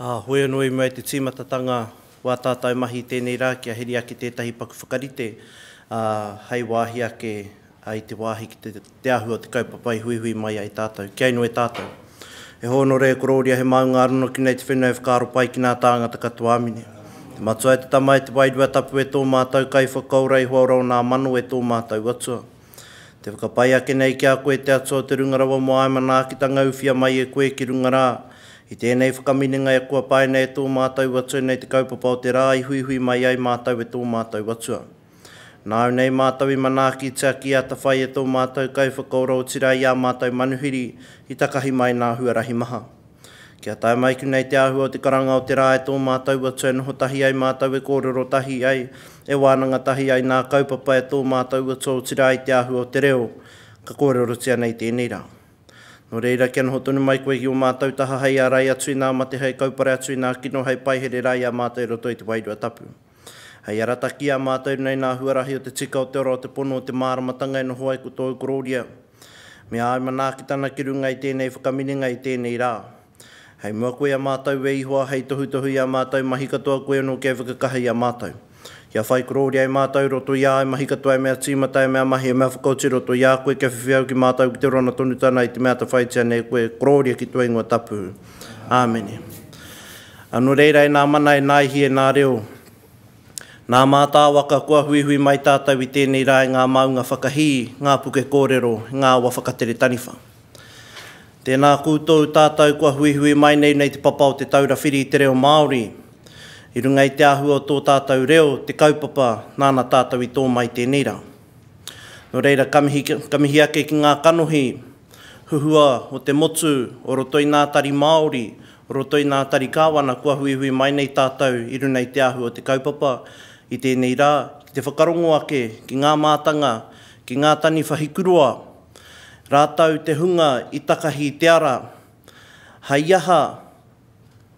Ā, hoi anō i mua i te tīmatatanga wā tātau mahi tēnei rā kia heri ake tētahi paku whakarite, ā, hei wāhi ake i te wāhi ki te te ahu o te kaupapa i huihui mai ai tātou, kia inoi tātou. He hōnore, he korōria, he māunga arono ki nei te whenua e whakaaro pai ki nā tāngata katoa amine. Te Matua e te Tama e te Wairua Tapu e tō mātou Kaiwhakaora i hoaora o nā mano e tō mātou Atua. Te whakapai ake nei ki a koe te Atua o te Runga Rawa mō āe manaakitanga uwhia mai e koe ki runga rā, i tēnei whakaminenga e kua paina e tō mātou Atua nei te kaupapa o te rā i huihui mai ai mātou e tō mātou Atua. Nāu nei mātou i manaaki te aki atawhai e tō mātou Kaiwhakaora otirā i ā mātou manuhiri i takahi mai nā huarahi maha. Kia tae mai ki nei te āhua o te karanga o te rā e tō mātou atu e noho tahi ai mātou e kōrero tahi ai, e wānanga tahi ai nā kaupapa e tō mātou atu otirā i te āhua o te reo ka kōrerotia nei tēnei rā. Nō reira kia noho tonu mai koe ki ō mātou taha hei ārai atu i nā mate hei kaupare atu i nā kino hei paihere rā i a mātou i roto i te Wairua Tapu. Hei arata ki a mātou nei nā huarahi o te tika o te ora o te pono o te māramatanga e noho ai ko tōu korōria, me āu manaakitanga ki runga i tēnei whakaminenga i tēnei rā. Hei mua koe a mātou e Ihoa hei tohutohu i a mātou mahi katoa koe anō kia whakakaha i a mātou. Kia whai korōria e mātou i roto i a au mahi katoa e mea tīmata e mea mahi e mea whakaoti i roto i a koe kia whiwhi au ki mātou ki te rona tonu tana i te mea atawhaitia nei koe korōria ki tua ingoa tapuhu. Āmene. A no reira e nā mana, e nā ihi, e nā reo, nā mātāwaka kua huihui mai tātou i tēnei rā i ngā māunga whakahī, ngā puke kōrero, i ngā awa whakatere taniwha. Tēnā kūtou tātou kua huihui mai nei nei Te Papa o Te Taura Whiri i te Reo Māori i runga i te āhua o tō tātou reo, te kaupapa nāna tātou i tō mai tēnei rā. No reira ka mihi, ka mihi ake ki ngā kanohi huhua o te motu o roto i ngā tari Māori Roto i ngā tari kāwana kua huihui mai nei tātou i runa i te ahu o te kaupapa i tēnei rā ki te whakarongo ake ki ngā mātanga, ki ngā taniwha hikuroa rātou te hunga i takahi i te ara hai aha,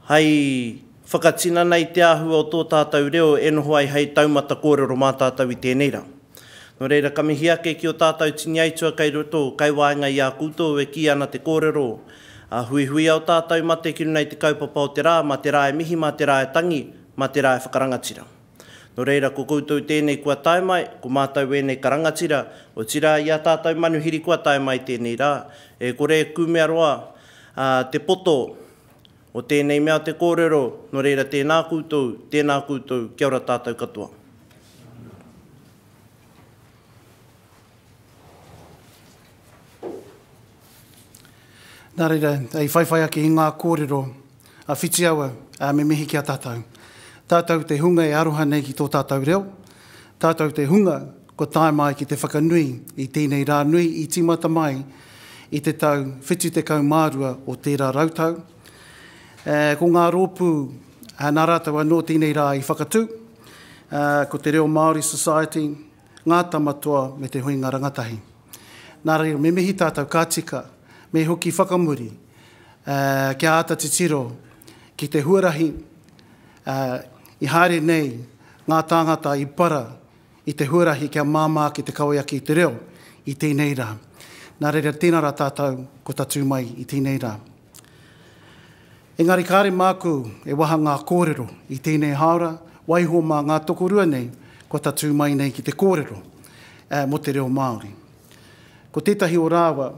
hai whakatinana i te āhua o tō tātou reo e noho ai hai taumata kōrero mā tātou i tēnei rā. Nō reira ka mihi ake ki o tātou tini aitua kei roto kai waenga i a koutou e kī ana te kōrero A huihuia o tātou mate ki runga i te kaupapa o te rā, mā te rā e mihi, mā te rā e tangi, mā te rā e whakarangatira. Nō reira, ko koutou tēnei kua tae mai, ko mātou ēnei ka rangatira, otirā i ā tātou manuhiri kua tae mai tēnei rā, e kore e kumea roa te poto o tēnei mea o te kōrero, nō reira tēnā koutou, tēnā koutou, kia ora tātou katoa. Nā reira, i whaiwhai ake i ngā kōrero a Whitiaua, ā, me mihi ki a tātou. Tātou te hunga e aroha nei ki tō tātou reo, tātou te hunga kua tāima ai ki te whakanui i tēnei rā nui i tīmata mai i te tau 72 o tērā rautau. E, ko ngā rōpū, nā rātou anō tēnei rā i whakatū, ko te Reo Māori Society, ngā tama toa me te huinga rangatahi. Nā reira, me mihi tātou ka tika, me hoki whakamuri, kia āta titiro ki te huarahi i haere nei ngā tāngata i para i te huarahi kia māmā ake te kawe ake i te reo i tēnei rā. Nā reira, tēnā rā tātou ko tatū mai i tēnei rā. Engari kāre māku e waha ngā kōrero i tēnei hāora, waiho mā ngā tokorua nei kua tatū mai nei ki te kōrero mō te reo Māori. Ko tētahi o rāua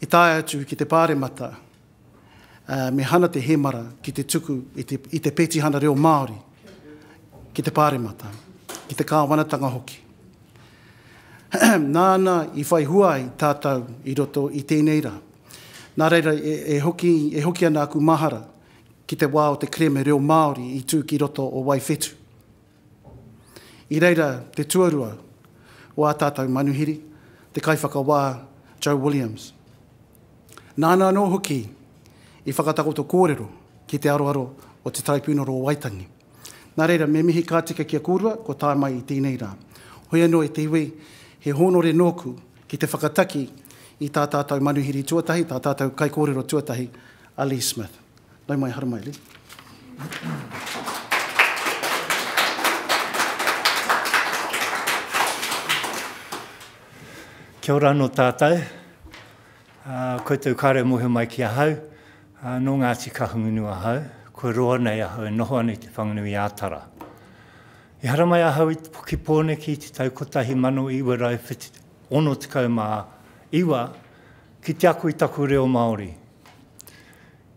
i tae atu ki te Pāremata me Hana Te Hemara ki te tuku i te petihana reo Māori ki te Pāremata, ki te kāwanatanga hoki. Nāna i whai hua ai tātou i roto i tēnei rā. Nā reira, e hoki, e hoki ana aku mahara ki te wā o te kereme reo Māori i tū ki roto o Waiwhetu. I reira te tuarua o ā tātou manuhiri, te Kaiwhakawā Joe Williams. Nāna anō hoki i whakatakoto kōrero ki te aroaro o Te Taraipiunara o Waitangi. Nā reira, me mihi ka tika ki a kōrua kua tae mai i tēnei rā. Hoi anō e te iwi, he hōnore nōku ki te whakataki i tā tātou manuhiri tuatahi, tā tātou kaikōrero tuatahi a Lee Smith. Nau mai, haramai Lee. Kia ora anō tātou. Ā, koutou kāre mōhio mai ki ahau, ā, nō Ngāti Kahungunu ahau, kua roa nei ahau e noho ana i te Whanganui-ā-Tara. I haramai ahau i, ki Pōneke i te tau 1969, ki te ako i taku reo Māori.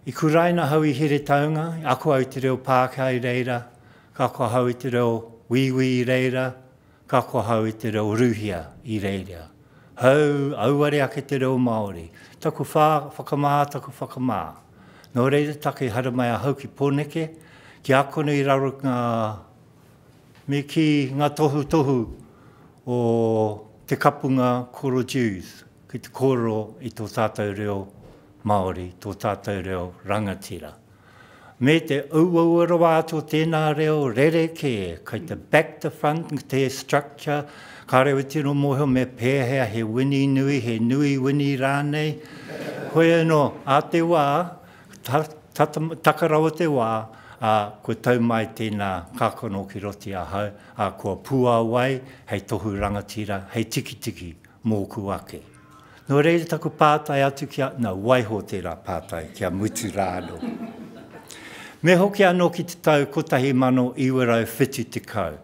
I kuraina ahau i Heretaunga, i ako au i te reo Pākehā i reira, ka ako ahau i te reo Wīwī i reira, Ka ko hau i te reo Ruhia i reirea. Hau, auare ake te reo Maori. Taku wha, whakamā, taku whakamā. No reira take haere mai a hau ki Poneke, ki akona i raro ki nga, me ki nga tohutohu o te kapunga Koro Jews, ki te korero i to tatou reo Maori, to tatou reo rangatira. Me te auaua rawa atu o tēnā reo rerekē, kei te back to front te structure, ka reo e tino mōhio me pēhea he wini nui, he nui wini rānei. Hoi anō, a te wā, ta, ta, taka rawa te wā, a, kua tau mai tēnā kākano ki roti ahau, a, kua pūawai hei tohu rangatira, hei tikitiki. Mōku ake. Nō reira taku pātai atu ki a, nā, waiho tērā pātai ki a Mutu rānō. Me hoki anō ki te tau 1970,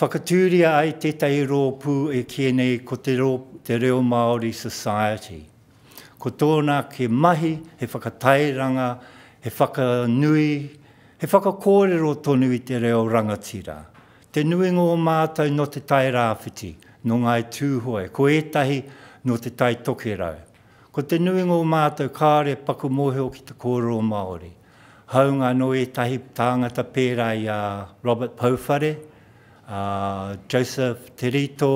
whakatūria ai tētahi rōpū e kīia nei ko te, te Reo Māori Society. Ko tōna ke mahi he whakatairanga, he whakanui, he whakakōrero tonu i te reo rangatira, Te nuinga o mātou nō Te Tai Rāwhiti, nō Ngāi Tūhoe, ko ētahi nō Te Tai Tokerau. Ko te nuinga o mātou kāore e paku mōhio ki te kōrero Māori. Hāunga anō ētahi tāngata pērā i a Robert Pouwhare, a Joseph Te Rito,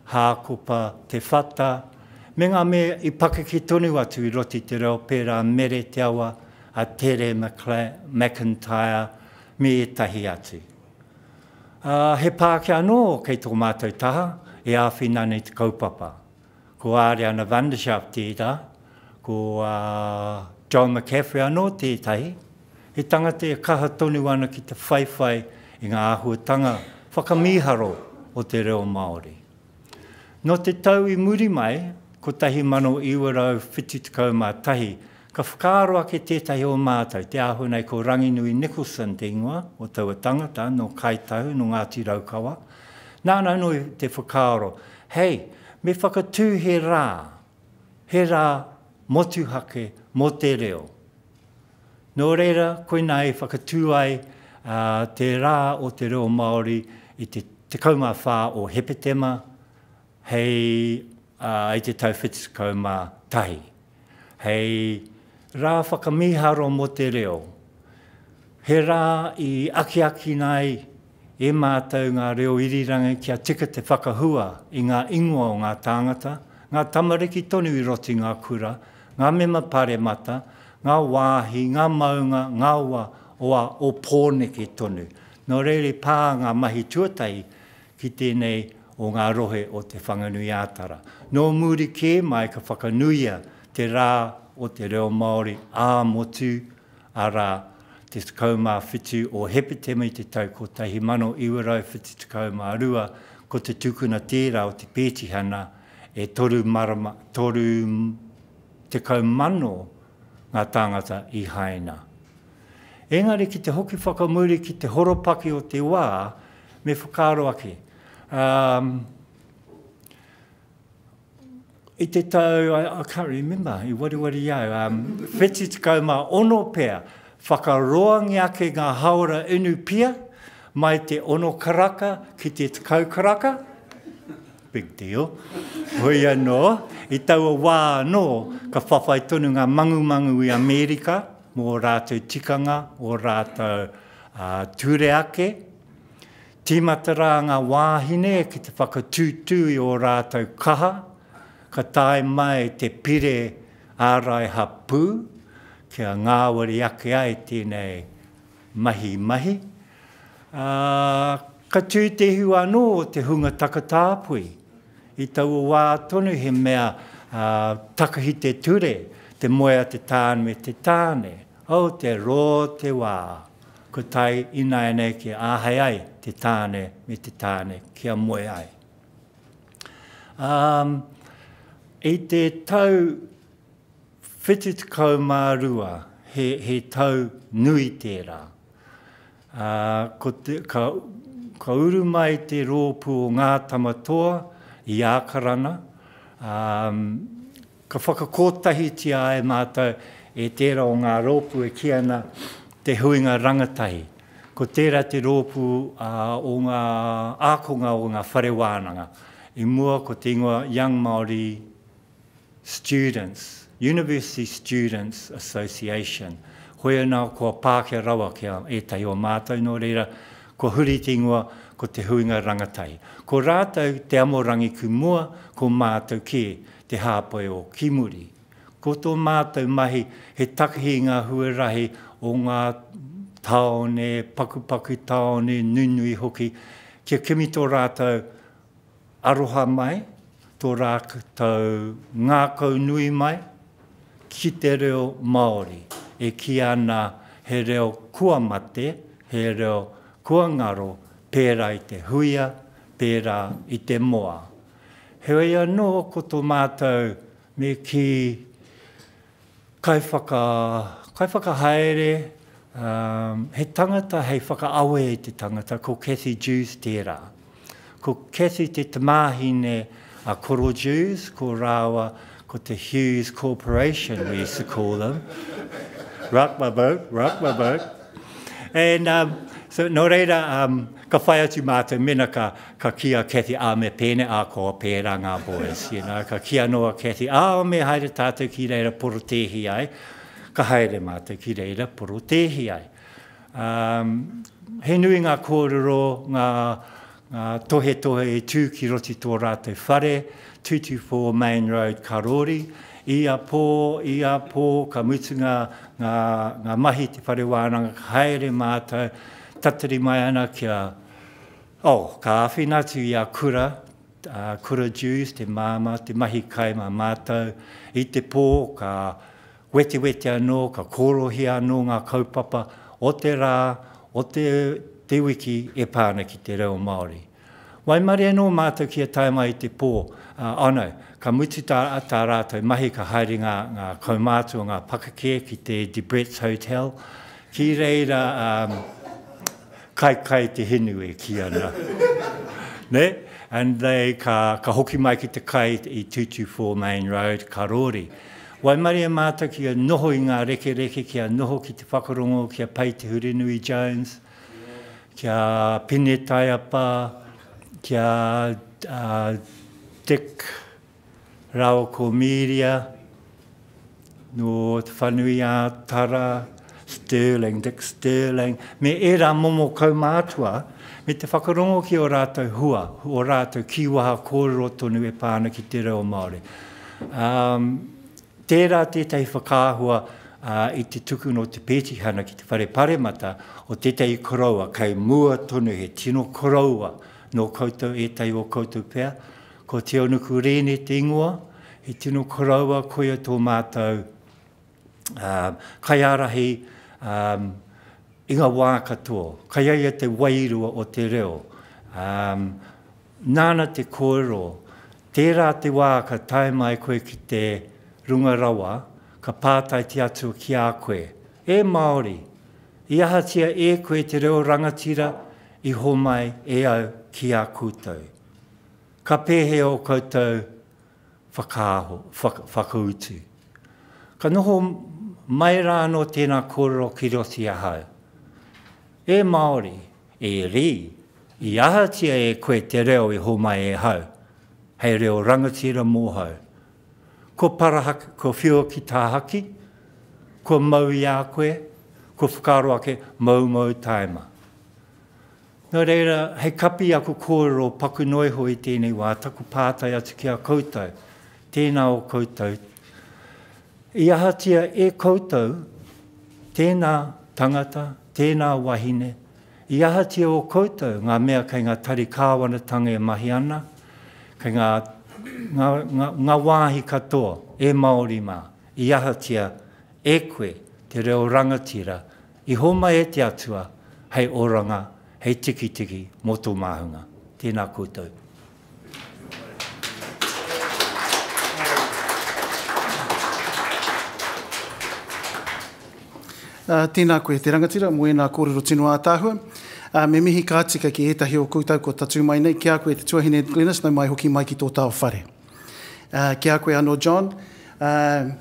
Hākopa Te Whata, me ngā mea i pakeke tonu atu i roto i te reo pērā Mere Te Awa, a Tere McIntyre me ētahi atu. Ā, he Pākehā anō kei tō mātou taha e āwhina ana i te kaupapa. Ko Āreana Vanderschaaf tērā, ko John McCaffrey anō tētahi, he tangata e kaha tonu ana ki te whaiwhai i ngā āhuatanga whakamīharo o te reo Māori. Nō te tau i muri mai 1971 Ka whakaaro ake tētahi o mātou, te āhua nei ko Ranginui Nicholson te ingoa o taua tangata, nō Kāi Tahu, nō Ngāti Raukawa. Nāna anō i te whakaaro, hei, me whakatū he rā, he rā motuhake mō te reo. Nō reira, koinā i whakatū ai te rā o te reo Māori i te 14 o Hepetema hei a i te tau whitu tekau ma tahi, hei ra whakamiharo mo te reo, he ra i akiakina ai e matou nga reo irirangi kia tika te whakahua i nga ingoa o nga tāngata, nga tamariki tonu i roto i nga kura, nga mema paremata, nga waahi, nga maunga, nga wa, oa o Poneke tonu. No reiri paa nga mahi tuatahi ki tēnei o ngā rohe o Te Whanganui-ā-Tara. Nō muri kē mai ka whakanuia te Rā o te Reo Māori ā-motu, arā, te 17 o Hepetema i te tau 1972, ko te tūkuna tērā o te pētihana e toru marama, toru tekau mano ngā tāngata i haina. Engari ki te hoki whakamuri ki te horopaki o te wā, Me whakaaro ake. Um, i te tau, I, I can't remember, i wariwari au, um, wheti tekau mā ono pea, whakaroangi ake ngā haora inu pia, mai te ono karaka ki te tekau karaka, big deal. Hoi anō, i taua wā anō, ka whawhai tonu ngā mangumangu i Amerika, mō rātou tikanga, o rātou Ā, ture ake, tīmata rā ngā wāhine ki te whakatūtū i ō rātou kaha, ka tae mai te pire ārai hapū kia ngāwari ake ai tēnei mahi mahi, ā, ka tū te ihu anō o te hunga takatāpui. I taua wā tonu he mea takahi te ture, te moe a te tāne me te tāne, Oh te ro te wa! Ko tai inainei ki ahei ai te tane me te tane kia moe ai. Um, i te tau 72, he, he tau nui tērā. Uh, ko te, ka, ka uru mai te rōpū o Ngā Tamatoa i Ākarana, um, Ka whakakotahitia e mātou e tērā o ngā rōpū e kī ana Te Huinga Rangatahi. Ko tērā te rōpū o ngā ākonga o ngā whare wānanga. I mua ko te ingoa Young Māori Students, University Students Association. Hoi anō kua Pākehā rawa ki a ētahi o mātou, nō reira, kua huri te ingoa ko Te Huinga Rangatahi. Ko rātou te amorangi ki mua, ko mātou kē. Te Hāpai o Kimuri. Ko tō mātou mahi he takihi i ngā huarahi o ngā tāone, pakupaku tāone, nunui hoki, kia kimi tō rātou aroha mai, tō rātou ngākau nui mai ki te reo Māori, e kī ana he reo kua mate, he reo kua ngaro pērā i te huia, pērā i te moa, Heoi anō, ko tō mātou me kī, kaiwhakahaere, he tangata hei whakaawe i te tangata, ko Cathy Dewes tērā. Ko Cathy te tamāhine a Koro Dewes, ko rāua Ko te Hughes Corporation, we used to call them. Rock my boat, rock my boat. And um, so, no reira, um, ka whai atu mātou mena ka, ka ki a Kathy, ā, me pēne ā koa pērā ngā boys, you know, ka ki anō a Kathy, ā, me haere tātou ki reira porotēhi ai, ka haere mātou ki reira porotēhi ai. Um, he nui ngā kōrero, ngā, ngā tohetohe i tū ki roti tō rātou whare, 224 Main Road, Karori. I a pō, i a pō, ka mutu ngā, ngā, ngā mahi te whare wānanga, ka haere mātou, tatari mai ana ki a, oh, ka awhina atu i a Kura, uh, Kura Jews, te māma, te mahi kai mā mātou. I te pō, ka, Wetiweti anō, ka kōrohia anō ngā kaupapa o te rā, o te, te wiki e pā ana ki te reo Māori. Waimarie anō mātou kia tae mai i te pō, ā, oh no, ka mutu tā, tā rātou mahi ka haere ngā, ngā kaumātua, ngā pakake ki te De Bretts Hotel, ki reira, ā, kai, kai te hinu e kī ana. Nē? And they, ka, ka hoki mai ki te kai i 224 Main Road, ka rori. Waimarie mātou kia noho i ngā rekereke, kia noho ki te whakarongo ki a Pei Te Hurinui Jones, ki a Pine Taiapa, ki a Dick rāua ko Mīria, nō Te Whanui-ā-Tara, Stirling, Dick Stirling, me ērā momo kaumātua, me te whakarongo ki ō rātou hua, ō rātou kīwaha kōrero tonu e pā ana ki te reo Māori. Um, tērā tētahi whakaahua uh, i te tuku no te pētihana ki te whare paremata o tētahi koroua kei mua tonu he tino koroua no koutou ētahi o koutou pea, ko Teonuku Rēne te ingoa, he tino koroua koia tō mātou kaiārahi i ngā wā katoa. Kai a ia te wairua o te reo. Nāna te kōrero, tērā te wā ka tae mai koe ki te Runga Rawa, ka pātaiti atu ki a koe, E Māori, i ahatia e koe te reo rangatira i homai e au ki a koutou? Ka pēhea ō koutou whakaaho, whaka, whakautu. Ka noho mai rā anō tēnā kōrero ki roto i ahau. E Māori, e Rī, i ahatia e koe te reo i homai e hau, hei reo rangatira mōhau? Ko Parahaki, ko Whio ki Tāhaki, kua mau i a koe, kua whakaaro ake, moumou taima. Nō reira, hei kapi aku kōrero paku noa iho i tēnei wā, taku pātai atu ki a koutou, tēnā o koutou, i ahatia e koutou tēnā tangata, tēnā wahine, i ahatia o koutou ngā mea kei ngā tari kāwanatanga e mahi ana, kei ngā, ngā, ngā, ngā wāhi katoa, e Māori mā, i ahatia e koe te reo rangatira I homai e te Atua hei oranga, hei tikitiki mō tō māhunga. Tēnā koutou. Tēnā koe, te rangatira, mō ēnā kōrero tino ātaahua. Me mihi ka tika ki ētahi o koutou kua tatū mai nei, ki a koe te Tuahine Glenis, nau mai hoki mai ki tō tao whare. Ā, ki a koe anō, John, ā,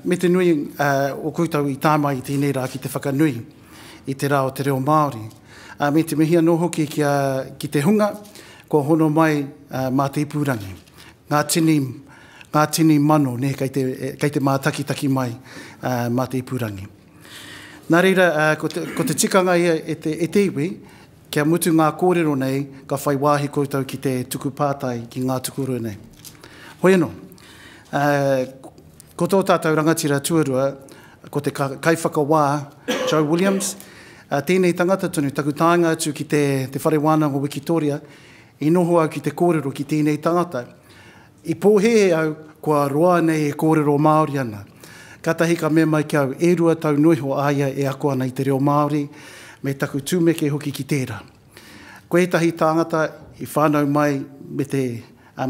me te nui, ā, o koutou i tā mai i tēnei rā ki te whakanui i te rā o te reo Māori, ā, me te mihi anō hoki ki a, ki te hunga kua hono mai, ā, mā te ipurangi. Ngā tini, ngā tini mano, nē, kei te, kei te mātakitaki mai, ā, mā te ipurangi. Nā reira, ā, ko te, ko te tikanga ia e te, e te iwi, Kia mutu ngā kōrero nei, ka whai wāhi koutou ki te tuku pātai ki ngā tukurua nei. Hoi anō, ko tō tātou rangatira tuarua, ko te Kaiwhakawā Joe Williams, tēnei tangata tonu, taku taenga atu ki te Whare Wānanga o Wikitoria, i noho au ki te kōrero ki tēnei tangata, I pōhēhē au, kua roa nei e kōrero Māori ana. Kātahi ka mea mai ki au, e rua tau noa iho a ia e ako ana i te reo Māori, me taku tumeke hoki ki tērā. Ko ētahi tāngata i whānau mai me te,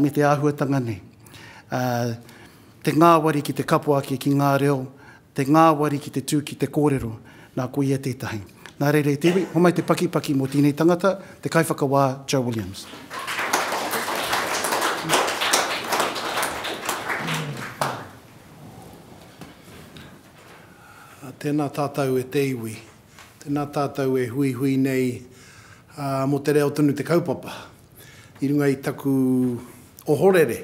me te āhuatanga nei, te ngāwari ki te kapo ake ki ngā reo Te ngāwari ki te tū ki te kōrero, nā koia tētahi. Nā reira e te iwi, homai te pakipaki mō tēnei tangata, te Kaiwhakawā, Joe Williams. Tēnā tātou e te iwi. Tēnā tātou e huihui nei mō te reo tonu te kaupapa. I runga i taku ohorere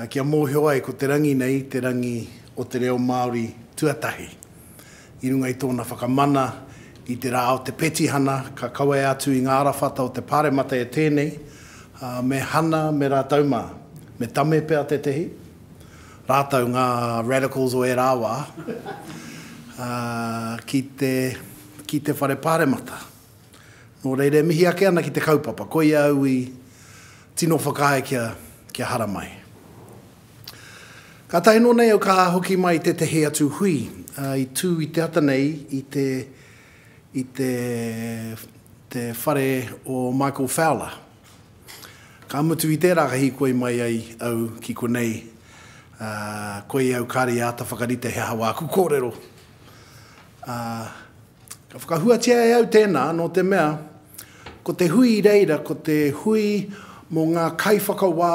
kia mōhio ai ko te rangi nei te rangi o te reo Māori tuatahi. I runga i tōna whakamana i te rā o te petihana ka kawea atu i ngā arawhata o te Pāremata e tēnei, me Hana me rātou mā, me Tame pea tētehi, rātou ngā radicals o ērā wā, ki te Whare Pāremata. Nō reira e mihi ake ana ki te kaupapa, koia au i tino whakaae kia haramai. Kātahi nō nei au ka hoki mai i tētahi atu hui i tū i te ata nei i te whare o Michael Fowler. Ka mutu i tērā ka hīkoi mai ai au ki konei, koia au kāre i āta whakarite he aha wā aku kōrero. Ka whakahuatia e au tēnā, nō te mea, ko te hui i reira, ko te hui mō ngā kaiwhakawā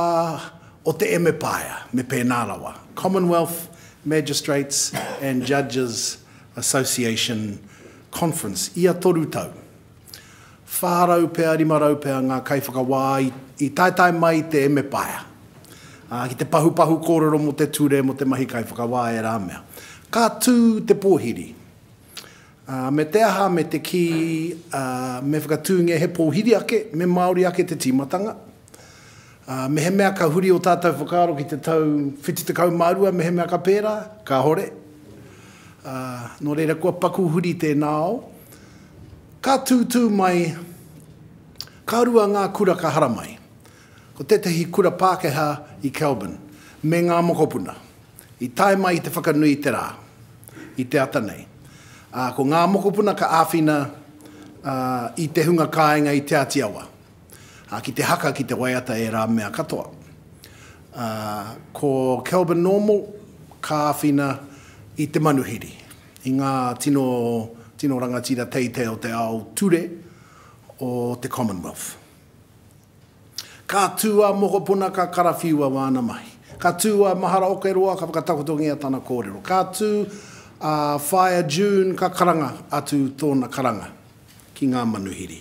o te emepaea, me pēnā rawa, Commonwealth Magistrates and Judges Association Conference, ia toru tau. 400 pea, 500 pea ngā kaiwhakawā i taetae mai i te emepaea, ā, ki te pahupahu kōrero mō te ture, mō te mahi kaiwhakawā, ērā mea. Ka tū te pōhiri. Ā, me te aha, me te kī, ā, me whakatūngia he pōhiri ake, me māori ake te tīmatanga. Ā, mehemea ka huri ō tātou whakaaro ki te tau whitu tekau mā rua, mehemea ka pērā, kāore. Ā, nō reira kua paku huri tēnā ao. Ka tūtū mai, ka rua ngā kura ka haramai. Ko tētahi kura Pākehā i Kelburn, me ngā mokopuna. I tae mai i te whakanui i te rā, i te ata nei, ā, ko ngā mokopuna ka āwhina i te hunga kāinga i Te Āti Awa, ā, ki te haka, ki te waiata ērā mea katoa. Ā, ko Kelvin Normal ka āwhina i te manuhiri, i ngā tino, tino rangatira teitei o te ao ture o te Commonwealth. Ka tū a mokopuna ka karawhiua wāna mahi. Ka tū a mahara okeroa ka whakatakotongia tana kōrero. Ka tū a whaea June ka karanga atu tōna karanga ki ngā manuhiri.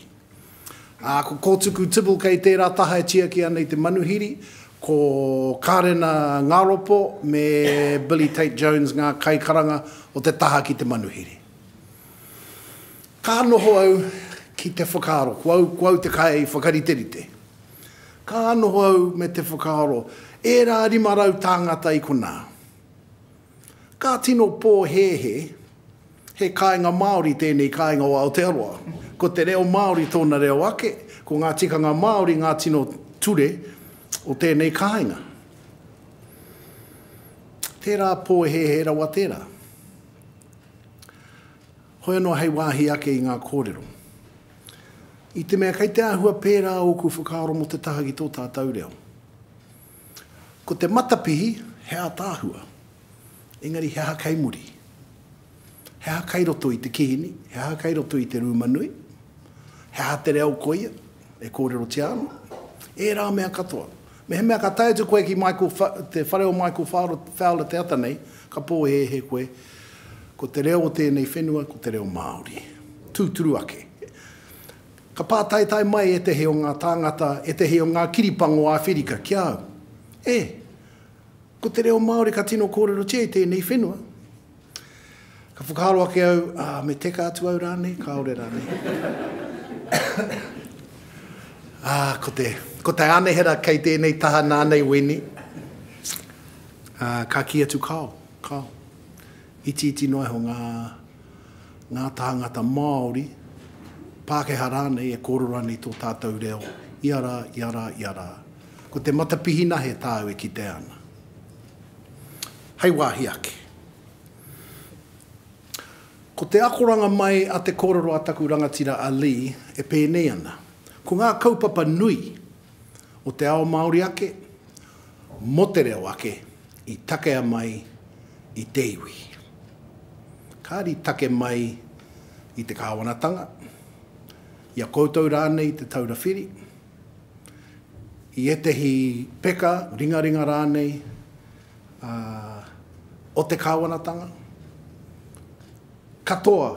Ā, ko Kōtuku Tibble kei tērā taha e tiaki ana i te manuhiri, ko Kārena Ngaropo me Billy Tate Jones ngā kaikaranga o te taha ki te manuhiri. Ka noho au ki te whakaaro, ko au, ko au te kaiai whakariterite. Ka noho au me te whakaaro, ērā rima rau tāngata i konā. Ka tino pōhēhē, he kāinga Māori tēnei kāinga o Aotearoa. Ko te reo Māori tōna reo ake, ko ngā tikanga Māori ngā tino ture o tēnei kāinga. Tērā pōhēhē rawa tērā. Hoi anō hei wāhi ake i ngā kōrero. I te mea kei te āhua pērā ōku whakaaro mō te taha ki tō tātou reo. Ko te matapihi he ātaahua, engari he aha kei muri? He aha kei roto i te kihini, he aha kei roto i te rūma nui? He aha te reo koia e kōrerotia ana? Ērā mea katoa. Mehemea ka tae atu koe ki Michael Fa, te whare o Michael Fowler, Fowler te ata nei, ka pōhēhē koe, ko te reo o tēnei whenua, ko te reo Māori. Tūturu ake. Ka pātaitai mai ētehi o ngā tāngata, ētehi o ngā kiripanga o Āwherika ki a au. E! Ko te reo Māori ka tino kōrerotia i tēnei whenua. Ka whakaaro ake au, ā, me teka atu au rānei, kāore rānei. ā, ko te, ko te anehera kei tēnei taha nānei wēni. Ā, ka kī atu, kao, kao. Iti iti noa iho ngā, ngā tāngata Māori, Pākehā rānei e kōrero ana i tō tātou reo, ia rā, ia rā, ia rā. Ko te matapihinahe tāu e kitea ana. hei wāhi ake. Ko te akoranga mai a te kōrero a taku rangatira a Lee e pēnei ana, ko ngā kaupapa nui o te ao Māori ake, mō te reo ake, i takea mai i te iwi. Kāri take mai i te kāwanatanga, i a koutou rānei te taura whiri, i ētehi peka, ringaringa rānei o te kāwanatanga. Katoa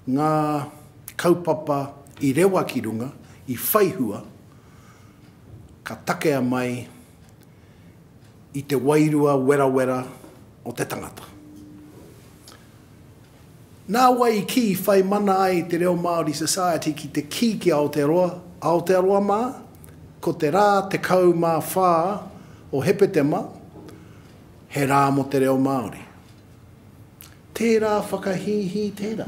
ngā kaupapa i rewa ki runga, i whai hua, ka takea mai i te wairua werawera o te tangata. Nāwai i kī, whai mana ai te Reo Māori Society ki te kī ki Aotearoa, Aotearoa mā, ko te rā 14 o Hepetema, he rā mō te reo Māori. Tērā whakahīhī tērā.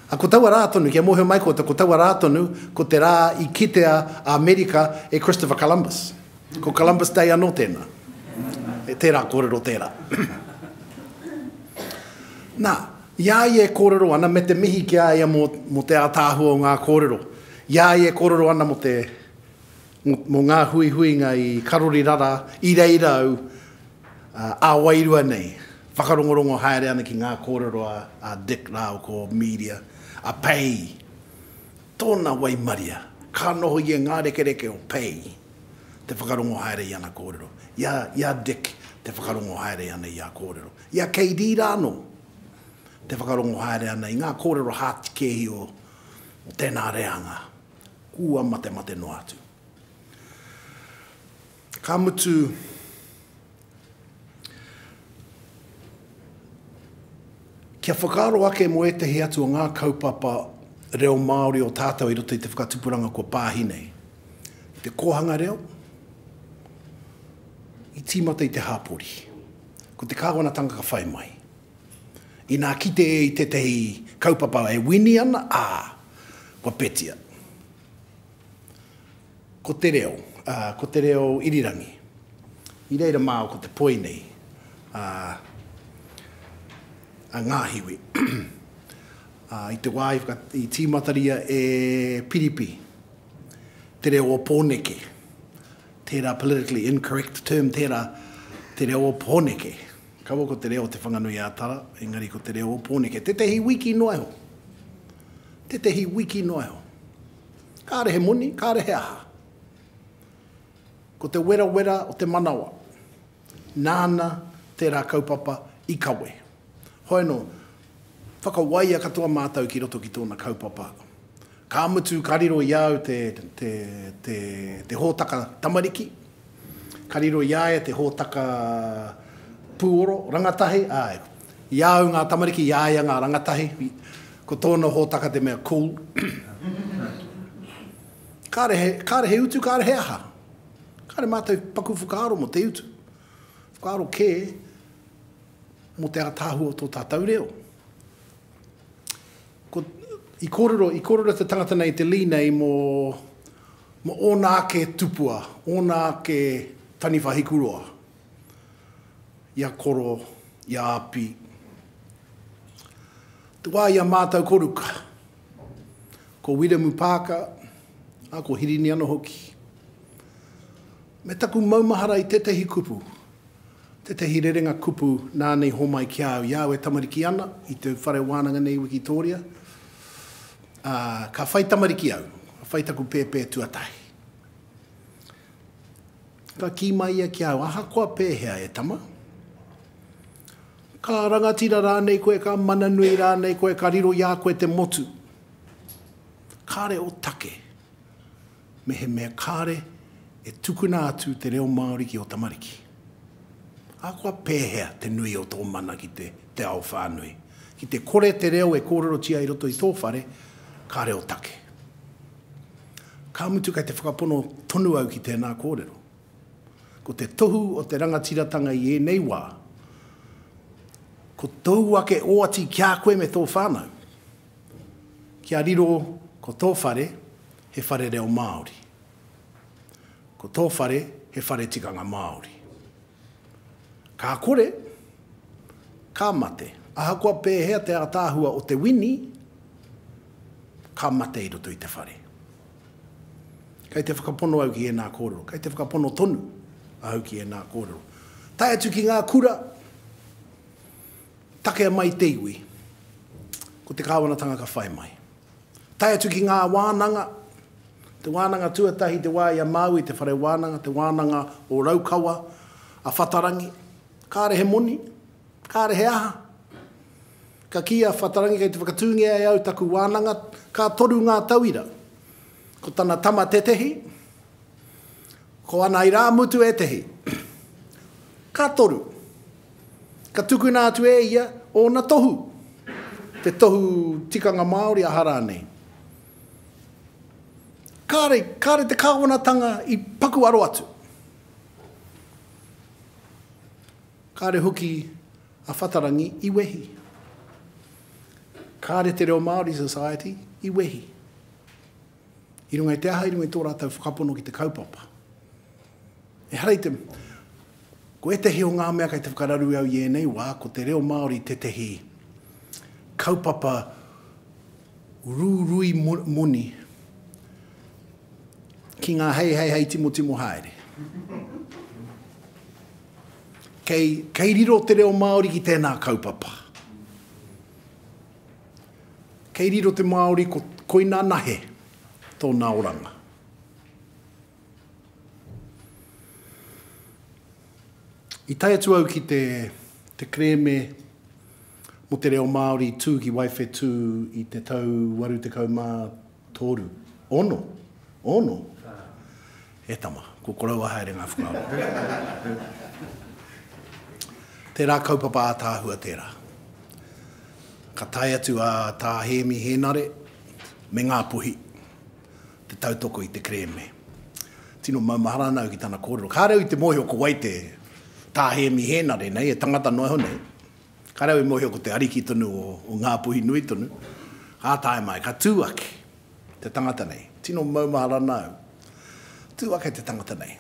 Ā, ko taua rā tonu, kia mōhio mai koutou, ko taua rā tonu, ko te rā i kitea Amerika e Christopher Columbus. Ko Columbus Day anō tēnā. E tērā kōrero tērā. Nā, i a ia e kōrero ana, me te mihi ki a ia mō, mō te ātaahua o ngā kōrero, i a ia e kōrero ana mō te, mō, mō ngā huihuinga i karori rara, i reira au, ā, ā wairua nei, whakarongorongo haere ana ki ngā kōrero a, a Dick rāua ko Media, a Pei, Tōna waimaria, ka noho i e ngā rekereke o Pei te whakarongo haere i ana kōrero, i a, i a Dick te whakarongo haere ana i a kōrero, i a KD rā anō te whakarongo haere ana i ngā kōrero hātikēhi o, o tēnā reanga, kua matemate noa atu. Ka mutu, kia whakaaro ake mō ētahi atu o ngā kaupapa reo Māori o tātou i roto i te whakatupuranga kua pāhi nei. I te kōhanga reo, i tīmata i te hāpori. Ko te Kāwanatanga ka whai mai. Inā kite e i tētahi kaupapa e wini ana, ā, kua petia. Ko te reo, ā, ko te reo irirangi. I reira māu ko te poi nei, ā, a Ngāhiwi. Ā, i te wā i whaka, i tīmataria e Piripi te reo o Pōneke, tērā politically incorrect term tērā, te reo o Pōneke. Kawau ko te reo o Te Whanganui-ā-Tara, engari ko te reo o Pōneke. Tētehi wiki noa iho, tētehi wiki noa iho. Kāre he moni, kāre he aha. Ko te werawera o te manawa, nāna tērā kaupapa i kawe. Hoeno, whakawaia katoa mātou ki roto ki tōna kaupapa. Ka mutu, ka riro i a au te hōtaka tamariki, Ka riro i a ia te hōtaka pūoro, rangatahi, ā, i a au ngā tamariki, i a ia ngā rangatahi. Ko tōna hōtaka te mea cool. Kāre he, kāre he utu, kāre he aha. Kāre mātou paku whakaaro mō te utu. Whakaaro kē mō te ātaahua o tō tātou reo. Ko, i kōrero, i kōrero te tangata nei te li nei mō, mō ōna ake tupua, ōna ake taniwha hikuroa. I a Koro, i a Api. Te wā i a mātau ko Ruka, ko Wiremu Paaka, ā, ko Hirini anō hoki. Me taku maumahara i tētehi kupu, tētehi rerenga kupu nāna i hōmai ki a au i a au e tamariki ana i te whare wānanga nei i Wikitōria, ā, ka whai tamariki au, ka whai taku pēpē tuatahi. Ka kī mai ia ki a au, Ahakoa pēhea, e tama, ka rangatira rānei koe, ka mana nui rānei koe, ka riro i a koe te motu, kāre ō take. Mehemea kāre e tukuna atu te reo Māori ki ō tamariki, ahakoa pēhea te nui o tō mana ki te ao whānui, ki te kore te reo e kōrerotia i roto i tō whare, ka reo take. Ka mutu kei te whakapono tonu au ki tēnā kōrero. Ko te tohu o te rangatiratanga i ēnei wā, ko tōu ake oati ki a koe me tō whānau, Kia riro ko tō whare he whare reo Māori. Ko tō whare he whare tikanga Māori. Ka kore, ka mate. Ahakoa pēhea te ātaahua o te wini, ka mate i roto i te whare. Kei te whakapono au ki ēnā kōrero. Kei te whakapono tonu ahau ki ēnā kōrero. Tae atu ki ngā kura. Takea mai te iwi. Ko te Kāwanatanga ka whai mai. Tae atu ki ngā wānanga, te wānanga tuatahi te wā i a Māui, te whare wānanga, te wānanga o Raukawa, a Whatarangi, kāre he moni, kāre he aha. Ka kī a Whatarangi, kei te whakatūngia e au taku wānanga, ka toru ngā tauira. Ko tana tama tetehi, Ko ana irāmutu ētehi. Ka toru. Ka tukuna atu e ia ōna tohu, te tohu tikanga Māori aha rānei. Kāre, kāre te Kāwanatanga i paku aro atu. Kāre hoki a Whatarangi i wehi. Kāre te Reo Māori Society i wehi. I runga i te aha, i runga i tō rātou whakapono ki te kaupapa. Ehara i te. Ko ētahi o ngā mea kei te whakararu au i ēnei wā, ko te reo Māori tētahi kaupapa rūrui moni ki ngā hei hei hei timotimo haere. Kei, kei riro te reo Māori ki tēnā kaupapa. Kei riro te Māori ko koina nahe tōna oranga. I tae atu au ki te kerēme mō te reo Māori tū ki Waiwhetū i te tau 83, Toru. Ono. Ono? E tama, ko koroua haere nga whakaaro. Tera kaupapa ataahua tera. Ka tae atu a Ta Heemi Henare me Ngapuhi te tautoko i te kereme. Tino maumahara ana au ki tana korero. Kare au i te mohi o ko wai te Ta Heemi Henare nei, he tangata noa iho nei. Ka rawe mohio ko te ariki tonu o Ngāpuhi nui tonu, ka tae mai, ka tū ake te tangata nei. Tino maumahara ana au, tū ake te tangata nei.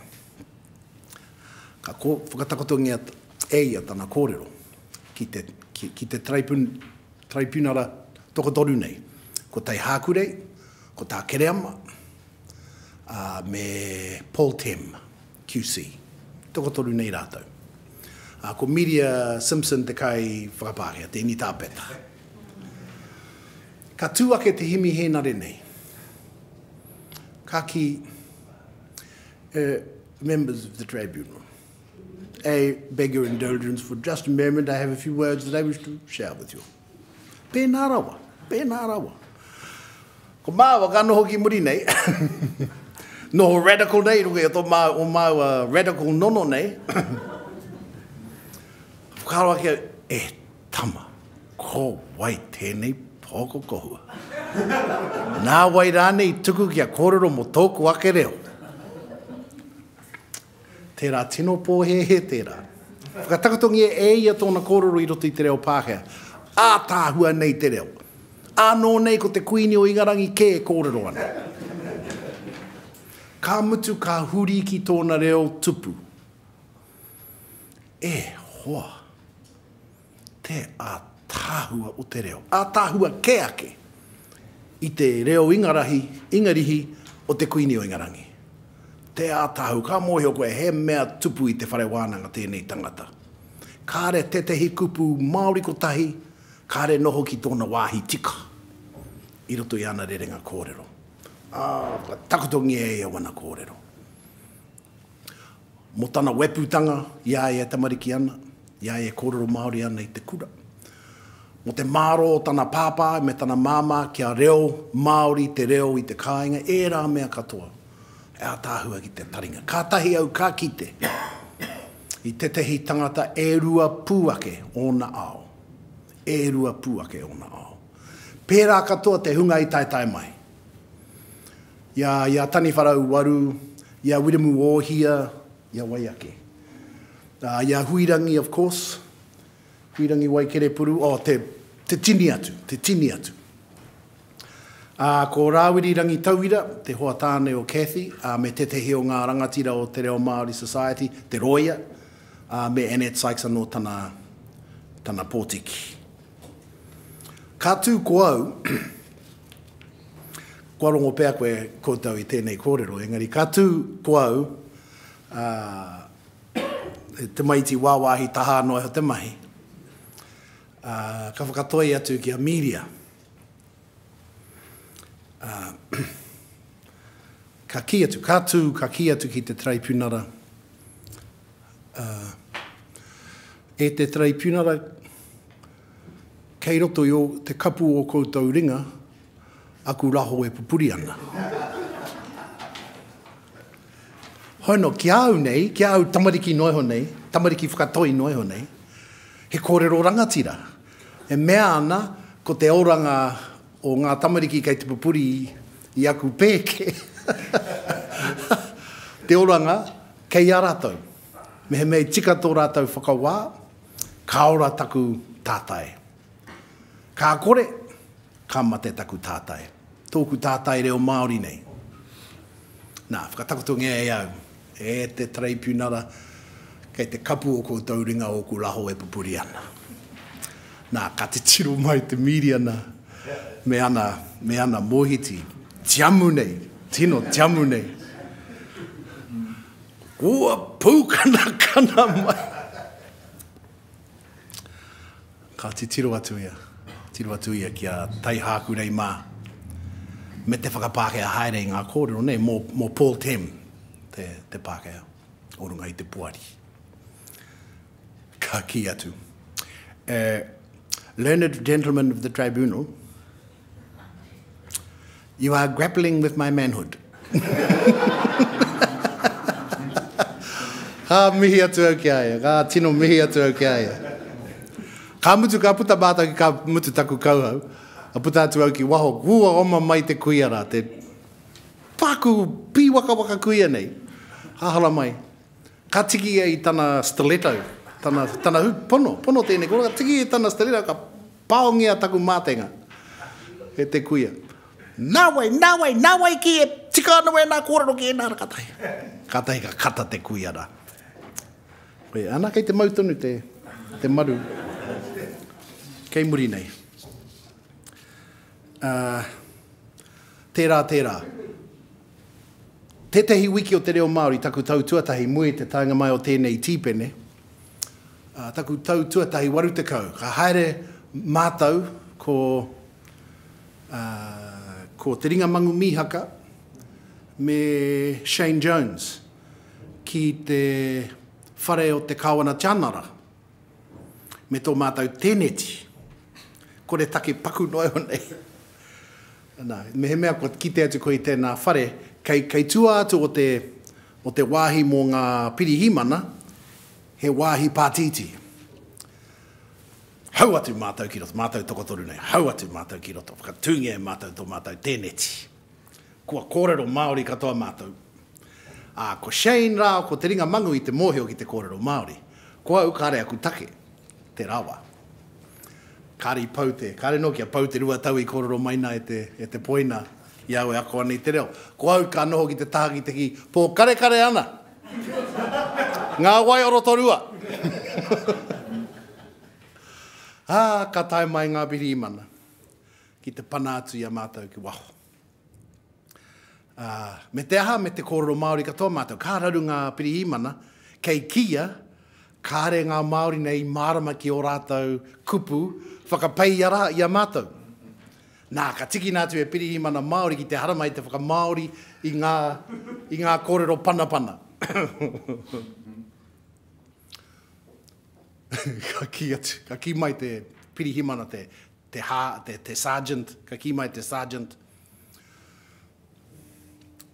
Ka whakatakotongia e ia tana kōrero ki te, ki te taraipunara tokotoru nei, ko Tai Hākurei, ko Tā Kereama, ā, me Paul Temm, QC. Tokotoru nei rātou. Ā, ko Miria Simpson te kaiwhakapākehā, te initāpeta. Ka tū ake te himi hēnare nei. Ka kī, E, members of the tribunal, I beg your indulgence for just a moment, I have a few words that I wish to share with you. Pēnā rawa, pēnā rawa. Ko māua ka noho ki muri nei, noho radical nei i runga i a tō māua, o māua radical nono nei. Whakaaro ake au, e tama, ko wai tēnei pōkokohua? Nā wai rānei i tuku kia kōrero mō tōku ake reo? Tērā, tino pōhēhē tērā. Whakatakotongia e ia tōna kōrero i roto i te reo Pākehā. Ātaahua nei te reo. Ānō nei ko te Kuini o Ingarangi kē e kōrero ana. Ka mutu ka huri ki tōna reo tupu. E hoa! te ātaahua o te reo, ātaahua kē ake i te reo Ingarahi, Ingarihi o te Kuini o Ingarangi. Te ātaahu, ka mōhio koe he mea tupu i te whare wānanga tēnei tangata. Kāre tētehi kupu Māori kotahi, kāre noho ki tōna wāhi tika i roto i ana rerenga kōrero. Ā, kua takotongia e ia wana kōrero. Mō tana weputanga i a ia e tamariki ana, i a ia e kōrero Māori ana i te kura. Mō te mārō o tana pāpā me tana māmā kia reo Māori te reo i te kāinga, ērā mea katoa e ataahua ki te taringa. Kātahi au ka kite i tētahi tangata e rua pū ake ōna ao, e rua pū ake ōna ao. Pērā katoa te hunga i taetae mai. I a, i a Taniwharau Waru, i a Wiremu Ōhia, i a wai ake? Ā, i a Huirangi, of course, Huirangi Waikerepuru, oh, te, te tini atu, te tini atu. Ā, ko Rāwiri Rangitauira, te hoa tāne o Cathy, ā, me tētehi o ngā rangatira o Te Reo Māori Society, te rōia, ā, me Annette Sykes anō tana, tana pōtiki. Ka tū ko au, kua rongo pea koe koutou i tēnei kōrero, engari ka tū ko au, ā, he tamaiti wāwāhi tahā noa iho te mahi, ā, ka whakatoi atu ki a Mīria, ā, ka kī atu, ka tū ka kī atu ki te taraipiunara, E te Taraipiunara, kei roto i te kapu o ō koutou ringa aku raho e pupuri ana. Hoi anō, ki a au nei, ki a au tamariki noa iho nei, tamariki whakatoi noa iho nei, he kōrero rangatira e mea ana ko te oranga o ngā tamariki kei te pupuri i aku pēke, te oranga Kei a rātou, mehemea i tika tō rātou whakawā, ka ora taku tātai. Ka kore, ka mate taku tātai, tōku tātai reo Māori nei. Nā, whakatakotongia e au, e te Taraipiunara, kei te kapu o koutou ringa ōku raho e pupuri ana. Nā, ka titiro mai te Mīriana. Me ana, me ana mohiti, tiamu nei, tino tiamu nei. Kua pūkana kana mai. Ka titiro atu ia, tiro atu ia ki a Taihākurei mā, me te whakapākehā haere i ngā kōrero nei mō, mō Paul Tem, te, te Pākehā, o runga i te poari. Ka kī atu, E, learned gentlemen of the tribunal, you are grappling with my manhood. Ka mihi atu au ki a ia, ka tino mihi atu au ki a ia. Ka mutu, ka puta mātou ki ka mutu taku kauhau, ka puta atu au ki waho, kua oma mai te kuia rā, te pāku pīwakawaka kuia nei, ka haramai. Ka tiki ia i tana stiletto, tana, tana hoop, pono, pono tēnei kōrero, ka tiki ia i tana stiletto, ka paongia taku mātenga e te kuia. Nāwai, nāwai, nāwai kī e tika ana wēnā kōrero ki ēnā rā, kātahi. Kātahi ka kata te kuia rā. Koia, ana kei te mau tonu te, te maru. Kei muri nei. Uh, tērā, tērā. Tētehi wiki o te reo Māori, taku tau tuatahi moe i te taenga mai o tēnei tīpene, ā, taku tau tuatahi 80, ka haere mātou ko, ā, ko Te Ringa Mangu Mīhaka me Shane Jones ki te whare o te Kāwana Tianara. me tō mātou tēneti, koretake paku noa iho nei. Nā, mehemea kua kite atu koe i tēnā whare, kei, kei tua atu o te, o te wāhi mō ngā Pirihimana, he wāhi pātītī. Hau atu mātou ki roto, mātou tokotoru nei, hau atu mātou ki roto, whakatūngia e mātou tō mātou tēneti. Kua kōrero Māori katoa mātou. Ā, ko Shane rā, ko te ringa mangu i te mōhio ki te kōrero Māori. Ko au, kāre aku take, te rawa. Kāre i pau te, kāre noa kia pau te rua tau i kōrero mai nā e te, e te poina i au e ako ana i te reo. Ko au, ka noho ki te taha ki te kī, pōkarekare ana! Ngā wai o Rotorua! Ā, ka tae mai ngā Birīmana. Ki te pana atu i a mātou ki waho. Ā, me te aha, me te kōrero Māori katoa mātou, ka raru ngā pirihimana kei kīia kāre ngā Māori nei i mārama ki ō rātou kupu whakapeia rā i a mātou. Nā, ka tikina atu e pirihimana Māori ki te haramai te whakamāori i ngā, i ngā kōrero panapana. ka kī atu, ka kī mai te pirihimana te Te hā, te, te sergeant, ka kī mai te sergeant,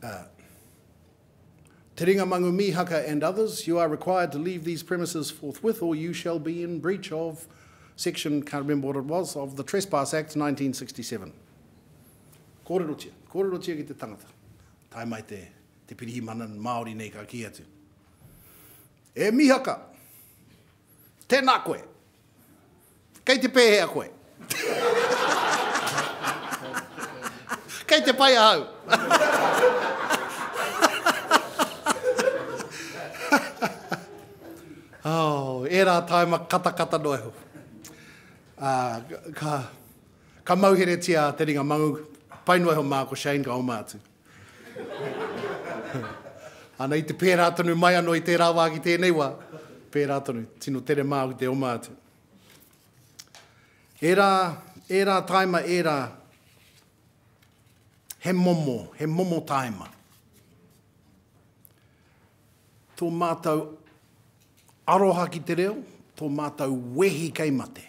Ā. Te Ringa Mangu Mīhaka and others, you are required to leave these premises forthwith or you shall be in breach of section, can't remember what it was, of the Trespass Act 1967. Kōrerotia, kōrerotia ki te tangata. Tae mai te, te pirihimana Māori nei ka kī atu, E Mīhaka! Tēnā koe! Kei te pēhea koe? Kei te pai ahau? Oh, ērā tāima katakata noa iho. Uh, ka, ka mauheretia te ringa mangu, pai noa iho mā ko Shane ka oma atu. Ana, i te pērā tonu mai anō i tērā wā ki tēnei wā, pērā tonu, tino tere māu te oma atu. Ērā, ērā tāima, ērā, he momo, he momo tāima. Tō mātou aroha ki te reo, tō mātou wehi kei mate.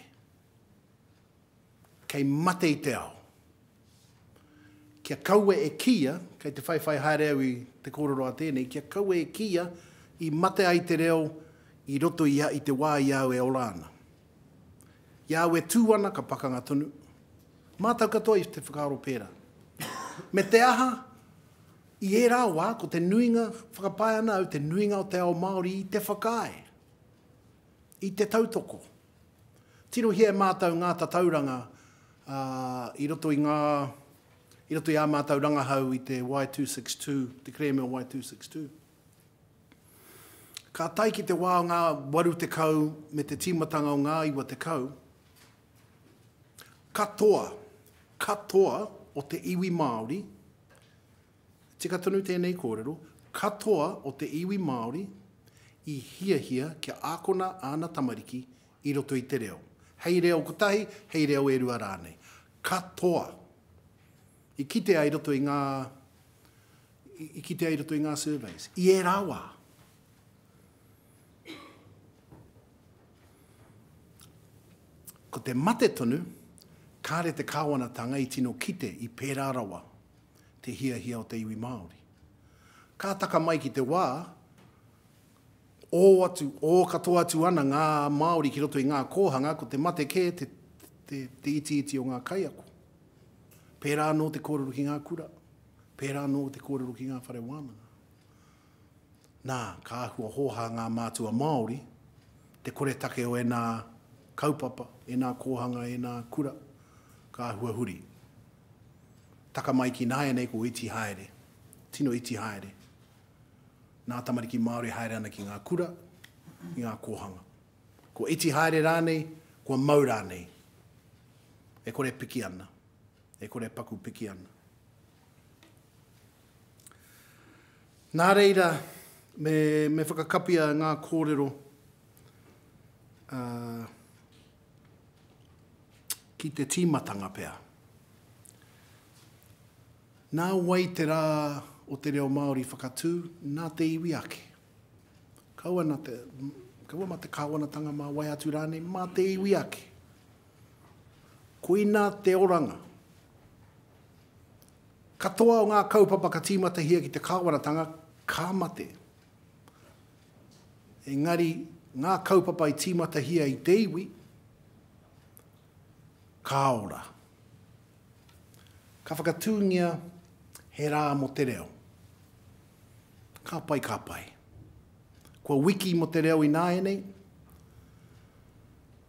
Kei mate i te ao. Kia kaua e kīia, kei te whaiwhai haere au i te kōrero a tēnei, kia kaua e kīia, i mate ai te reo i roto i a i te wā i a au e ora ana. I a au e tū ana ka pakanga tonu. Mātau katoa i te whakaaro pērā. Me te aha, i ērā wā ko te nuinga, whakapae ana au te nuinga o te ao Māori i te whakaae. I te tautoko. Tirohia e mātou ngā tatauranga i roto i ngā, i roto i ā mātou rangahau i te Y262, te kerēme o Y262. Ka tae ki te wā o ngā 80 me te tīmatanga o ngā 90, katoa, katoa o te iwi Māori, Tika tonu tēnei kōrero, katoa o te iwi Māori i hiahia kia ākona āna tamariki i roto i te reo, hei reo kotahi, hei reo e rua rānei. Katoa i kitea i roto i ngā, i kitea i roto i ngā surveys, i ērā wā. Ko te mate tonu, kāre te Kāwanatanga i tino kite, i pērā rawa. te hiahia o te iwi Māori. Ka taka mai ki te wā, ō atu, ō katoa atu ana ngā Māori ki roto i ngā kōhanga, ko te mate kē te, te, te itiiti o ngā kaiako. Pērā anō te kōrero ki ngā kura, pērā anō te kōrero ki ngā whare wānanga. Nā, ka āhua hōhā ngā mātua Māori, te koretake o ēnā kaupapa, ēnā kōhanga, ēnā kura, ka āhua huri. Taka mai ki nāianei ko iti haere, tino iti haere, nā tamariki Māori e haere ana ki ngā kura, ki ngā kōhanga. Kua iti haere rānei, kua mau rānei, e kore piki ana, e kore paku piki ana. Nā reira, me, me whakakapia ngā kōrero uh, ki te tīmatanga pea. Nā wai te rā o te reo Māori whakatū, nā te iwi ake. Kaua, nā te, kaua mā te kāwanatanga, mā wai atu rānei, mā te iwi ake. Koina te oranga. Katoa o ngā kaupapa ka tīmatahia ki te kāwanatanga, ka mate. Engari, ngā kaupapa i tīmatahia i te iwi, ka ora. Ka whakatūngia he rā mō te reo. Ka pai, ka pai. Kua wiki mō te reo ināianei.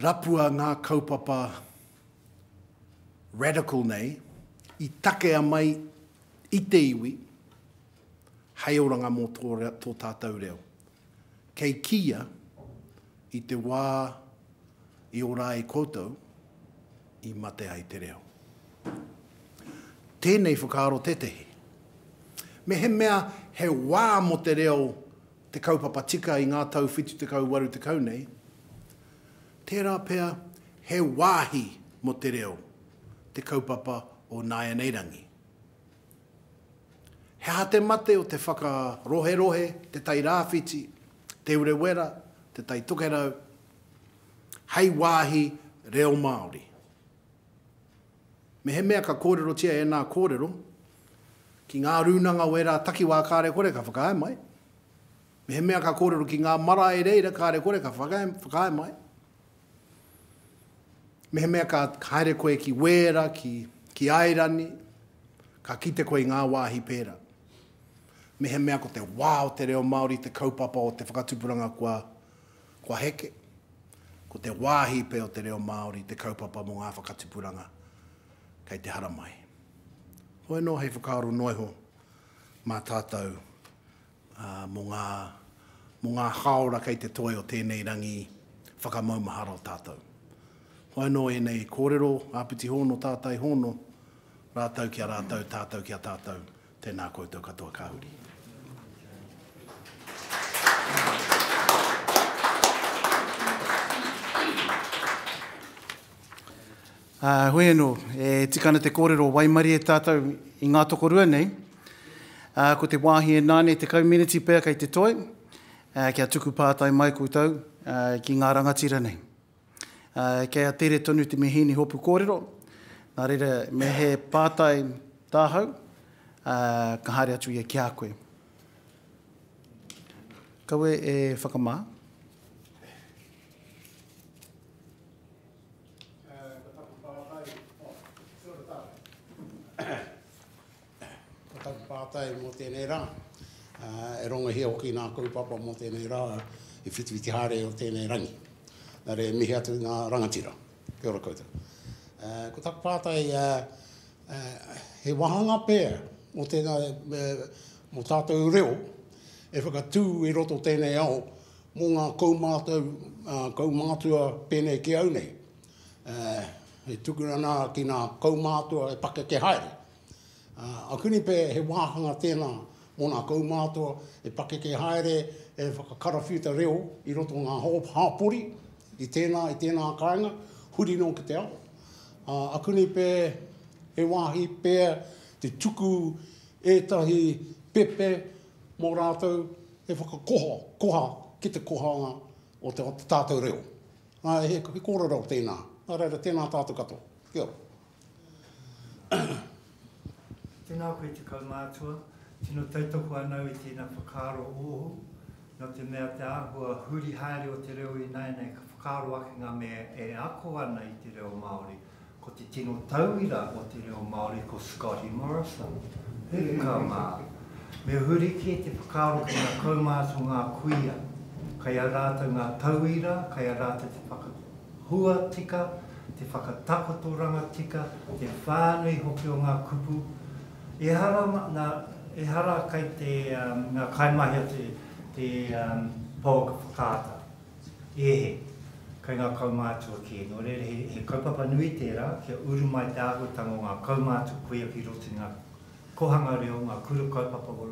Rapua ngā kaupapa radical nei i takea mai i te iwi hei oranga mō tō tātou reo. Kei kīia i te wā i ora ai koutou i mate ai te reo. Tēnei whakaaro tētehi. Mehemea he wā mō te reo te kaupapa tika i ngā tau 70, 80 nei, tērā pea he wāhi mō te reo te kaupapa o nāianei rangi. He aha te mate o te whakaroherohe, te tairāwhiti, te urewera, te taitokerau, hei wāhi reo Māori? Mehemea ka kōrerotia ēnā kōrero ki ngā rūnanga o ērā takiwā kāre kore ka whakaae mai, mehemea ka kōrero ki ngā marae reira kāre kore ka whakaae mai, mehemea ka haere koe ki Wēra, ki Airani, ka kite koe i ngā wāhi pērā. Mehemea ko te wā o te reo Māori te kaupapa o te whakatupuranga kua Kua heke, ko te wāhi pea o te reo Māori te kaupapa mō ngā whakatupuranga kei te haramai. Hoi anō hei whakaaro noa iho mā tātou mō ngā, mō ngā hāora kei te toe o tēnei rangi whakamaumahara o tātou. Hoi anō ēnei kōrero, āpiti hōno, tātai hōno, rātou ki a rātou, tātou ki a tātou, Tēnā koutou katoa ka huri. Aa, hoi anō, e tika ana te kōrero waimarie tātou i ngā tokorua nei. Aa, ko te wāhi e nāne tekau meneti pea kei te toe, aa, kia tuku pātai mai koutou, aa, ki ngā rangatira nei. Kei a tere tonu te mihini hopu kōrero, nā reira me he pātai tāhau, ka haere atu ia ki a koe. Kaua e whakamā. Ko taku pātai, oh, tino tāhau. Ko taku pātai mō tēnei rā, e rongohia hoki nā kaupapa mō tēnei rā i whitu i te haere o tēnei rangi. Engari e mihi atu ngā rangatira. Kia ora koutou. Ko taku pātai, he wāhanga pea mō tēnei, mō tātou reo e whakatū i roto tēnei ao mō ngā kaumātau, kaumātua pēnei ki au nei, e tukuna ana ki ngā kaumātua e pakeke haere. A Kunipe, he wāhanga tēnā mō nā kaumātua e pakeke haere, e whakakarawhiuta reo i roto o ngā hāpori i tēnā, i tēnā kāinga, huri noa ki te ao. A Kunipe, he wāhi pea te tuku ētahi pepe mō rātou he whakakoha, koha ki te kohanga o te tātou reo. He kōrero tēnā. Nā reira, tēnā tātou katoa. Kia ora. Tēnā koe te kaumātua, tino tautoko anau i tēnā whakaaro ohu, nō te mea te āhua huri haere o te reo ināianei ka whakaaro ake ngā mea e ako ana i te reo Māori, ko te tino tauira o te reo Māori ko Scotty Morrison. He reka mā. Me huri kē te whakaaro ki ngā kaumātua ngā kuia, kei a rātou ngā tauira, kei a rātou te whaka. hua tika, te whakatakotoranga tika, te whānui hoki o ngā kupu. Ehara, nā, ehara kai te, ngā kaimahi o te, te pouaka whakaata. E he, kai ngā kaumātua kē. Nō reira, he, he kaupapa nui tērā kia uru mai te āhuatanga o ngā kaumātua koia ki roto i ngā kohanga reo, ngā kura kaupapa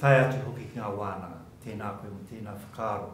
tae atu hoki ki ngā wānanga. Tēnā koe mō tēnā whakaaro.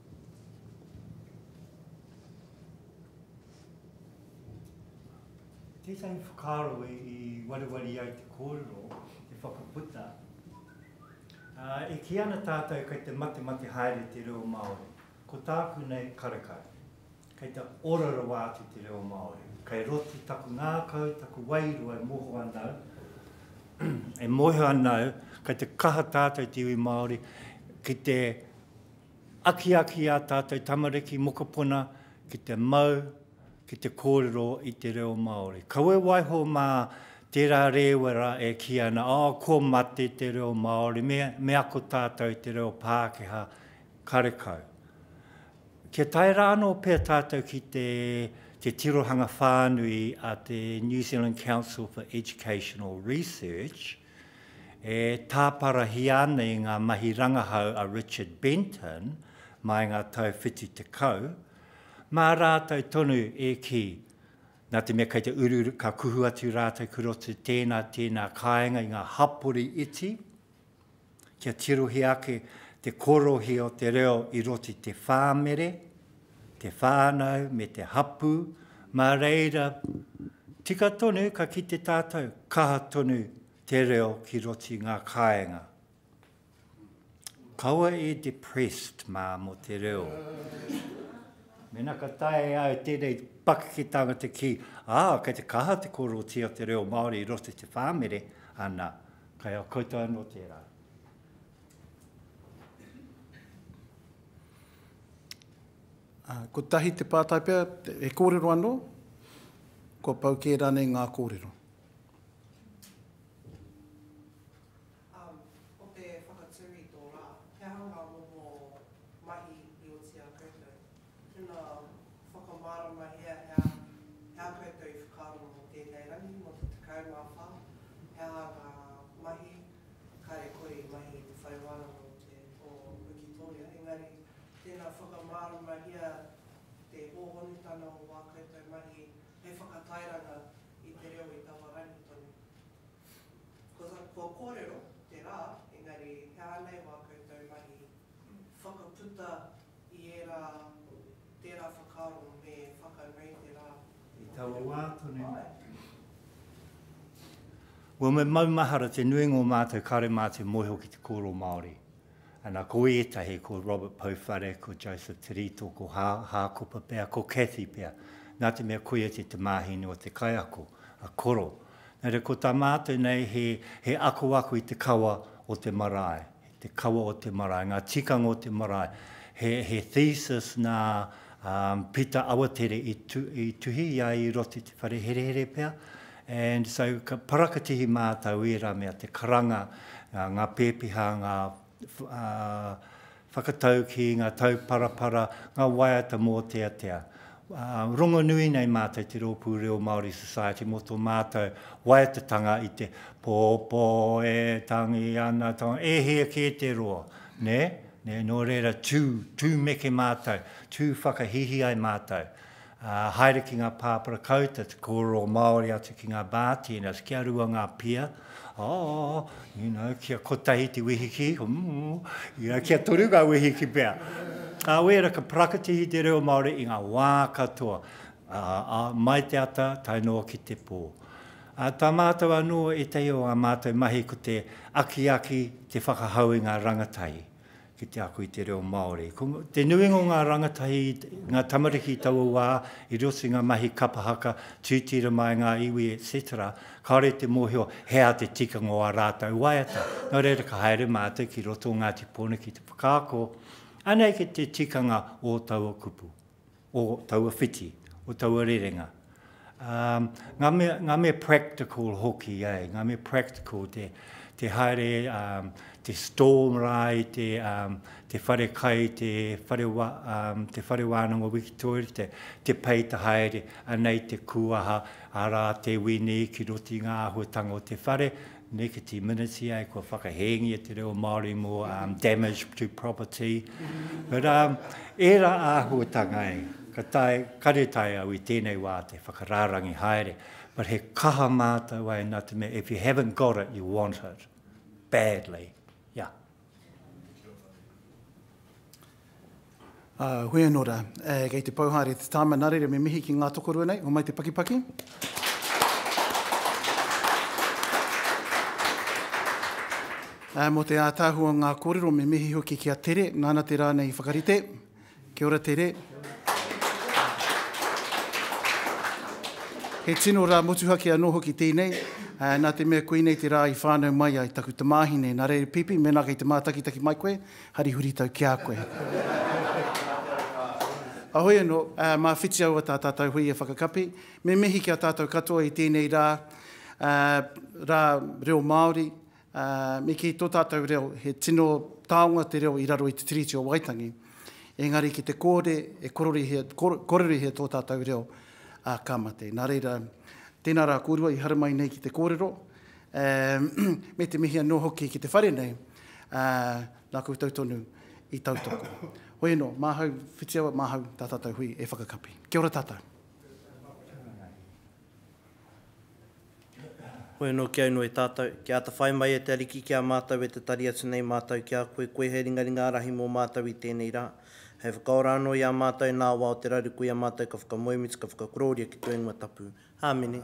Tētahi whakaaro i wareware ai te kōrero te whakaputa, ā, e kī ana tātou kei te matemate haere te reo Māori. Ko tāku nei karekau, kei te ora rawa atu te reo Māori. Kei roto taku ngākau, taku wairua e moho ana au, e moe ana au, kei te kaha tātou te iwi Māori ki te Akiaki ā tātou tamariki mokopuna ki te mau, ki te kōrero i te reo Māori. Kaua e waiho mā tērā rēwera e kī ana, oh, kua mate te reo Māori, me, me ako tātou i te reo Pākehā karekau. Kia tae rā anō pea tātou ki te, te tirohanga whānui a te New Zealand Council for Educational Research, E tāparahia ana i ngā mahi rangahau a Richard Benton mai ngā tau whitu tekau, mā rātou tonu e kī, nā te mea kei te uru ka kuhu atu rātou ki roto i tēnā, tēnā kāinga i ngā hapori iti, kia tirohia ake te korohia o te reo i roto i te whāmere. te whānau me te hapū, mā reira tika tonu ka kite tātou kaha tonu te reo ki roto i ngā kāenga. Kaua e depressed mā mō te reo. Mena ka tae au tēnei pakeke tāngata ki, ā, kei te kaha te koroti o te reo Māori i roto i te whāmere, ana, kai a koutou anō tērā. Kotahi te pātai pea, he kōrero anō, kua pau kē rānei ngā kōrero? Kāre koe i mahi i te whare wānanga o te o Wikitōria, engari tēnā whakamārumahia te hōhonutanga o wā koutou mahi hei whakatairanga i te reo i taua rangi tonu. Ko ta, kua kōrero te rā, engari he aha nei wā koutou mahi whakaputa i ērā, tērā whakaaro me whakanui te rā? I taua wā tonu nei. Well, me maumahara te nui ngō mātou kāre mā te moeho ki te kōrero Māori. Ana, ko ētahi, ko Robert Pouwhare, ko Joseph Terito, ko Hā, Hākopa pea, ko Cathy pea. Nā te mea koia te tamāhine o te kaiako, a Koro. Nā reira, ko tā mātou nei he, he akoako i te kawa o te marae. te kawa o te marae, ngā tikanga o te marae. He, he thesis nā um, Pita Awatere i, tu, i tuhi i a i roto i te whare herehere pea. And so ka parakatihi mātau i ērā mea, te karanga, ngā, ngā pēpiha, ngā uh, whakatau ki ngā tauparapara, ngā waiata mōteatea. Rongonui nei mātou te Rōpū Reo Māori Society mō tō mātou waiatatanga i te pōpō e tangi ana tō, e hia kē te roa, nē? Nē, nō reira, tū, tū meke mātou, tū whakahīhī ai mātou, ā, haere ki ngā pāpara kauta, te kōrero Māori atu ki ngā bartenders, kia rua ngā pia, Ā, ina kia kotahi te wehiki, mm, ina kia toru ngā wehiki pea. Ā, wēra ka parakatihi te reo Māori i ngā wā katoa, ā, ā, mai te ata tae noa ki te pō. Ā, tā mātou anō ētahi o ā mātou mahi ko te akiaki, te whakahau i ngā rangatahi. ki te ako i te reo Māori. Ko te nuinga o ngā rangatahi, ngā tamariki i taua wā, i roto i ngā mahi kapa haka, tītira mai ngā iwi, etc. Kāore te mōhio he aha te tikanga o ā rātou waiata. Nō reira ka haere mātou ki roto o Ngāti Pōneke ki te whakaako, anei te tikanga o taua kupu. o taua whiti, o taua rerenga. Um, ngā, mea, ngā mea practical hoki, eh? ngā mea practical, te, te haere, um, te storm rai, te, um, te whare kai, te whare, wa, um, te whare wānanga wikitoria, te, te pei te haere, anei te kuaha, arā te wini ki roti ngā āhuatanga o te whare, Nekiti Miniti ai kua whakahēngia te reo Māori mō um, damage to property. But um, ērā āhuatanga e, ka tae, kare tae au i tēnei wā te whakarārangi haere, but he kaha mātou ai nā te mea, if you haven't got it, you want it, badly. Yeah. Huianora, kei te pou haere te tāima, nā reira me mihi ki ngā tokorua nei, homai te pakipaki. Mō te ātaahua o ngā kōrero, me mihi hoki ki a Tere, nāna te rā nei i whakarite. Kia ora Tere. He tino rā motuhake anō hoki tēnei, nā te mea koinei te rā i whānau mai ai taku tamāhine. Nā reira Pipi, mēnā kei te mātakitaki mai koe, hari huritau ki a koe. Ahoi anō, mā whiti aua tā tātou hui e whakakapi. Me mihi ki a tātou katoa i tēnei rā, rā reo Māori, Ā, me kī, tō tātou reo, he tino taonga te reo i raro i te Tiriti o Waitangi, engari ki te kore e kororihia, kororihia tō tātou reo, ā, ka mate. Nā reira, tēnā rā kōrua i haramai nei ki te kōrero, ā, me te mihi anō hoki ki te whare nei, ā, nā koutou tonu i tautoko. Hoi anō, māhau Whitiawa, māhau tā tātou hui e whakakapi. Kia ora tātou. Hoi anō ki au noa e tātou, kia āta whai mai e te Ariki ki a mātou e te tari atu nei mātou ki a koe, koe he ringaringa ārahi mō mātou i tēnei rā, hei whakaora anō i a mātou nā wā o te raru koia mātou ka whakamoemiti, ka whakakorōria ki tō ingoa tapu. Āmine.